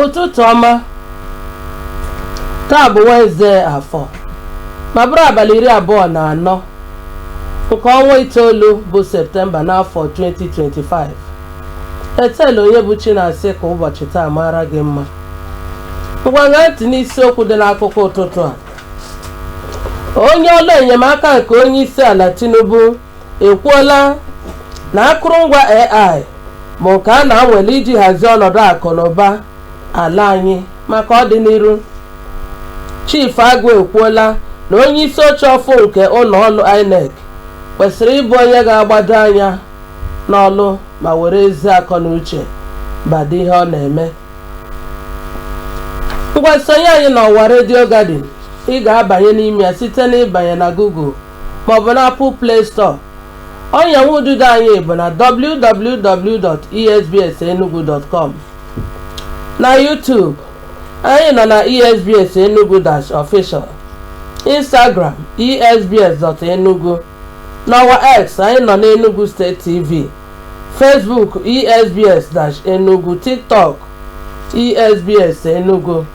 ụtụtụ ọma taa bụ Wenezde afọ ma bụrụ abalị iri abụọ na anọ nke ọnwa itoolu bụ septemba n'afọ 2025 etela onye bụ chi na-asị ka ụbọchị taa maara gị mma ngwa ṅaa ntị n'isiokwu dị n'akụkọ ụtụtụ a onye ọlụ enyemaka nke onye isi ala tinubu ekwuola na akụrụngwa AI bụ nke a na-anwale iji hazie ọnọdụ akụ na ụba ala anyị maka ọdịnihu. Chief Agụ ekwuola na onye isi oche ọfụ nke ụnọ ọlụ INEC kwesịrị ịbụ onye ga-agbado anya n'ọlụ ma were ezi akọ na uche bado ihe ọ na-eme. Ngwa sonye anyị n'ọwa Radio Garden ị ga-abanye n'ime ya site n'ịbanye na Google maọbụ n'Apple Play Store. Ọnya nwa ududo anyị bụ na www.esbsenugu.com. Na YouTube, anyị nọ na ESBS Enugu Dash Official, Instagram esbs.enugu, n'ọwa X anyị nọ n'Enugu State TV, Facebook esbs Dash Enugu, TikTok esbs Enugu.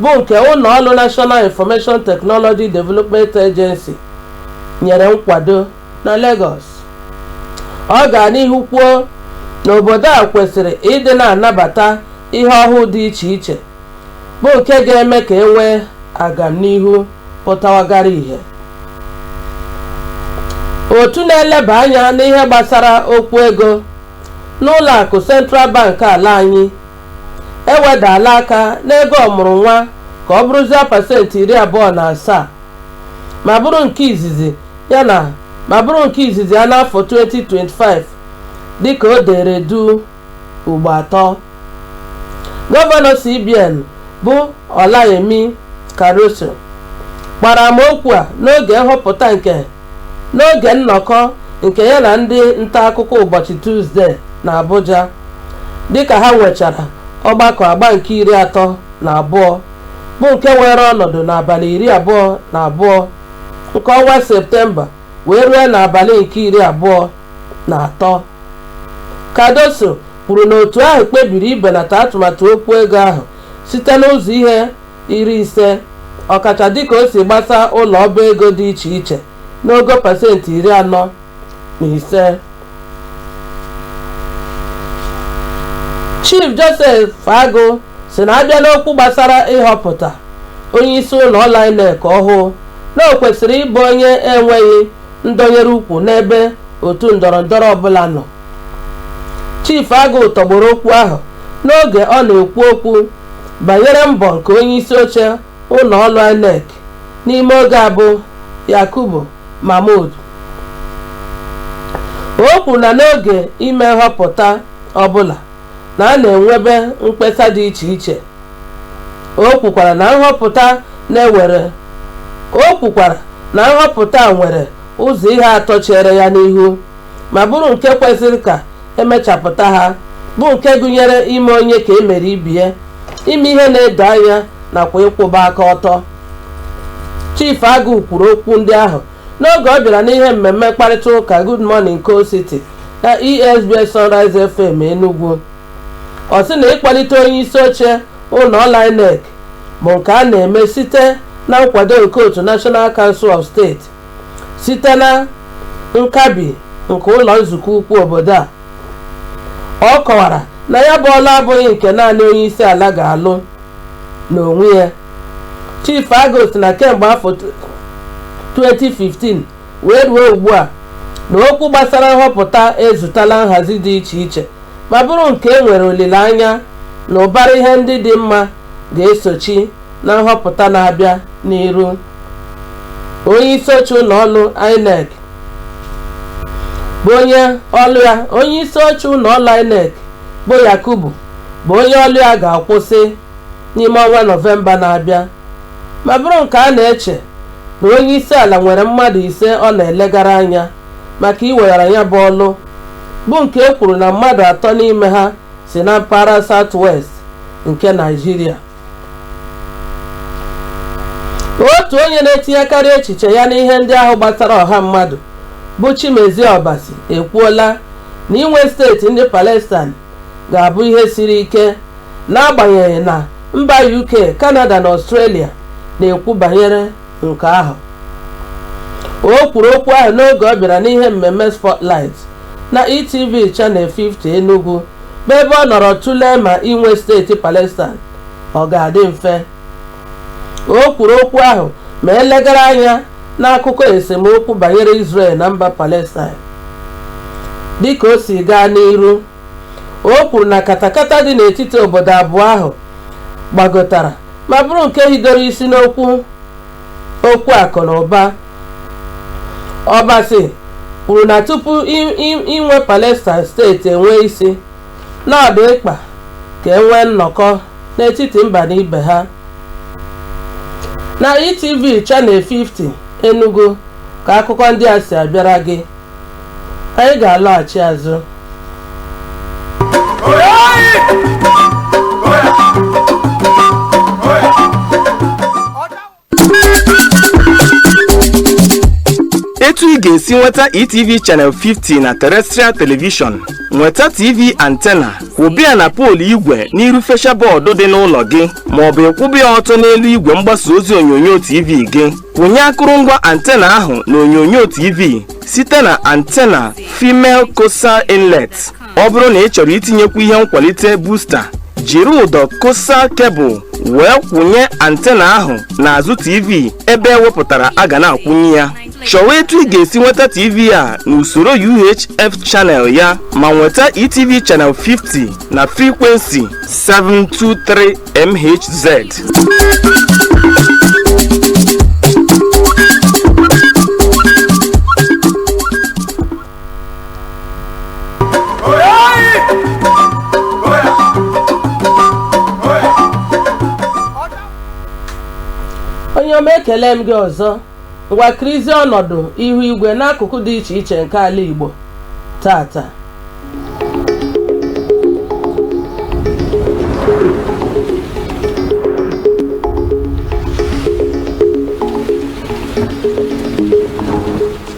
bụ nke ụnọ ọlụ National Information Technology Development Agency nyere nkwado na Lagos. Ọ gara n'ihu kwuo na obodo a kwesịrị ịdị na-anabata ihe ọhụụ dị iche iche bụ nke ga-eme ka e nwee agamnihu pụtawagara ihe. Otu na-eleba anya n'ihe gbasara okwu ego n'ụlọakụ Central Bank ala anyị ewedala aka n'ego ọmụrụ nwa ka ọ bụrụzie pasentị iri abụọ na asaa ma bụrụ nke izizi ya na ma bụrụ nke izizi ya n'afọ 2025 dịka o dere duu ugbo atọ gọvanọ CBN bụ Olayemi Cardoso gbara ama okwu a n'oge nhọpụta nke N'oge nnọkọ nke ya na ndị ntaakụkọ ụbọchị Tuzde n'Abuja dịka ha nwechara ọgbakọ agba nke iri atọ na abụọ bụ nke weere ọnọdụ n'abalị iri abụọ na abụọ nke ọnwa Septemba wee rue n'abalị nke iri abụọ na atọ, Cardoso kwuru na otu ahụ kpebiri ibenata atụmatụ okwu ego ahụ site n'ụzọ ihe iri ise ọkacha dịka o si gbasa ụlọ ọba ego dị iche iche n'ogo pasentị iri anọ na ise Chief Joseph Agụ sị na a bịa n'okwu gbasara ịhọpụta onye isi ụlọ ọlụ INEC ọhụụ na o kwesịrị ịbụ onye enweghị ndọnyere ukwu n'ebe otu ndọrọ ndọrọ ọbụla nọ Chief Agụ tọgbọrọ okwu ahụ n'oge ọ na-ekwu okwu banyere mbọ nke onyeisi oche ụlọ ọlụ INEC n'ime oge a bụ Yakubu Mahmood. O kwuru na n'oge ime nhọpụta ọbụla na a na-enwebe mkpesa dị iche iche. O kwukwara na nhọpụta na-ewere O kwukwara na nhọpụta nwere ụzọ ihe atọ chere ya n'ihu. ma bụrụ nke kwesịrị ka e mechapụta ha bụ nke gụnyere ime onye ka e mere ibie ime ihe na-edo anya nakwa ịkwụba aka ọtọ Chief Agụ kwuru okwu ndị ahụ n'oge ọ bịara n'ihe mmemme mkparịta ụka Good Morning Coal City na ESBS Sunrise FM Enugu ọ sị na ịkwalite onye isi oche ụlọ ọlụ INEC bụ nke a na-eme site na nkwado nke otu National Council of State site na nkabi nke ụlọ nzukọ ukwu obodo a ọ kọwara na ya bụ ọlụ abụghị nke naanị onye isi ala ga-alụ n'onwe ya Chief Agụ sị na kemgbe afọ 2015 wee ruo ugbu a na okwu gbasara nhọpụta ezutala nhazi dị iche iche ma bụrụ nke e nwere olileanya na ụbara ihe ndị dị mma ga-esochi na nhọpụta na-abịa n'iru onyeisi oche ụlọ ọlụ INEC bụ onye ọlụ ya onyeisi oche ụlọ ọlụ INEC bụ Yakubu bụ onye ọlụ ya ga-akwụsị n'ime ọnwa nọvemba na-abịa ma bụrụ nke a na-eche na onye isi ala nwere mmadụ ise ọ na-elegara anya maka iweghara ya bụ ọlụ bụ nke e kwuru na mmadụ atọ n'ime ha si na mpaghara South West nke Naịjirịa otu onye na-etinyekarị echiche ya n'ihe ndị ahụ gbasara ọha mmadụ bụ Chimezie Obasi ekwuola na inwe steeti ndị Palestine ga-abụ ihe siri ike n'agbanyeghị na mba UK, Canada na Australia na-ekwu banyere nke ahụ o kwuru okwu ahụ n'oge ọ bịara n'ihe mmemme Spotlight na ETV Channel 50 Enugu bụ ebe ọ nọrọ tụlee ma inwe steeti Palestine ọ ga-adị mfe o kwuru okwu ahụ ma elegara anya n'akụkọ esemokwu banyere Israel na mba Palestine dịka o si gaa n'iru o kwuru na katakata dị n'etiti obodo abụọ ahụ gbagotara ma bụrụ nke hidoro isi n'okwu okwu akụ na ụba ọbasi kwuru na tupu i- i- inwe palestine steeti enwe isi na ọ dị mkpa ka e nwee nnọkọ n'etiti mba na ibe ha na etv channel 50 enugu ka akụkọ ndị a si abịara gị anyị ga-alọghachi azụ etu ị ga-esi nweta etv channel 50 na terrestrial television nweta tv antena kwụba ya na poolu igwe n'iru fesha bọọdụ dị n'ụlọ gị maọbụ ị kwụba ya ọtọ n'elu igwe mgbasa ozi onyonyo tv gị Kwụnye akụrụngwa antena ahụ na onyonyo TV site na antena Female Coaxial Inlet. Ọ bụrụ na ị chọrọ itinyekwu ihe nkwalite booster, jiri ụdọ coaxial cable wee kwụnye antena ahụ n'azụ TV ebe e wepụtara a ga na-akwụnye ya. Chọwa etu ị ga-esi nweta TV a n'usoro UHF channel ya ma nweta ETV channel 50 na frequency 723 MHZ. onye ọma ekele m gị ọzọ Ngwa kirizie ọnọdụ ihu igwe n'akụkụ dị iche iche nke ala Igbo tata.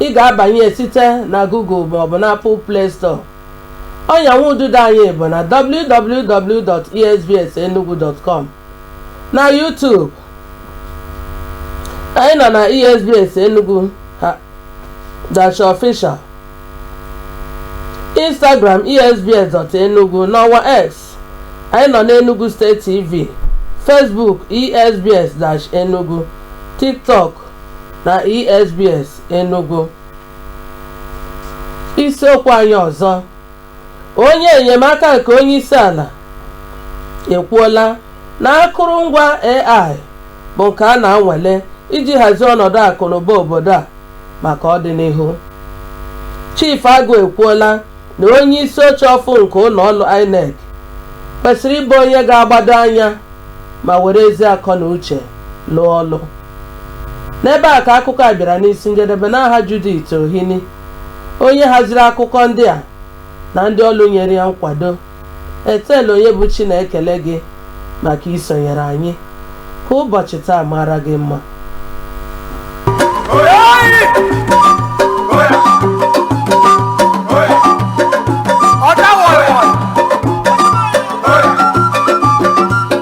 ị ga-abanye site na Google maọbụ na Apple Play Store. Ọnya nwa ududo anyị bụ na www.esbsenugu.com na YouTube anyị nọ na ESBS Enugu dash official Instagram esbs.enugu n'ọwa X anyị nọ n'Enugu State TV Facebook esbs-enugu TikTok na esbs enugu isiokwu anyị ọzọ onye enyemaka nke onye isi ala ekwuola na akụrụngwa AI bụ nke a na-anwale iji hazie ọnọdụ akụnụba obodo a maka ọdịnihu Chief Agụ ekwuola na onye isi oche ọfụ nke ụnọ ọlụ INEC kwesịrị ịbụ onye ga-agbado anya ma were ezi akọ na uche lụọ ọlụ n'ebe a ka akụkọ a bịara n'isi njedebe n'aha Judith Ohini onye haziri akụkọ ndị a na ndị ọlụ nyere ya nkwado Ethel Onyebuchi na-ekele gị maka isonyere anyị. Ka ụbọchị taa mara gị mma.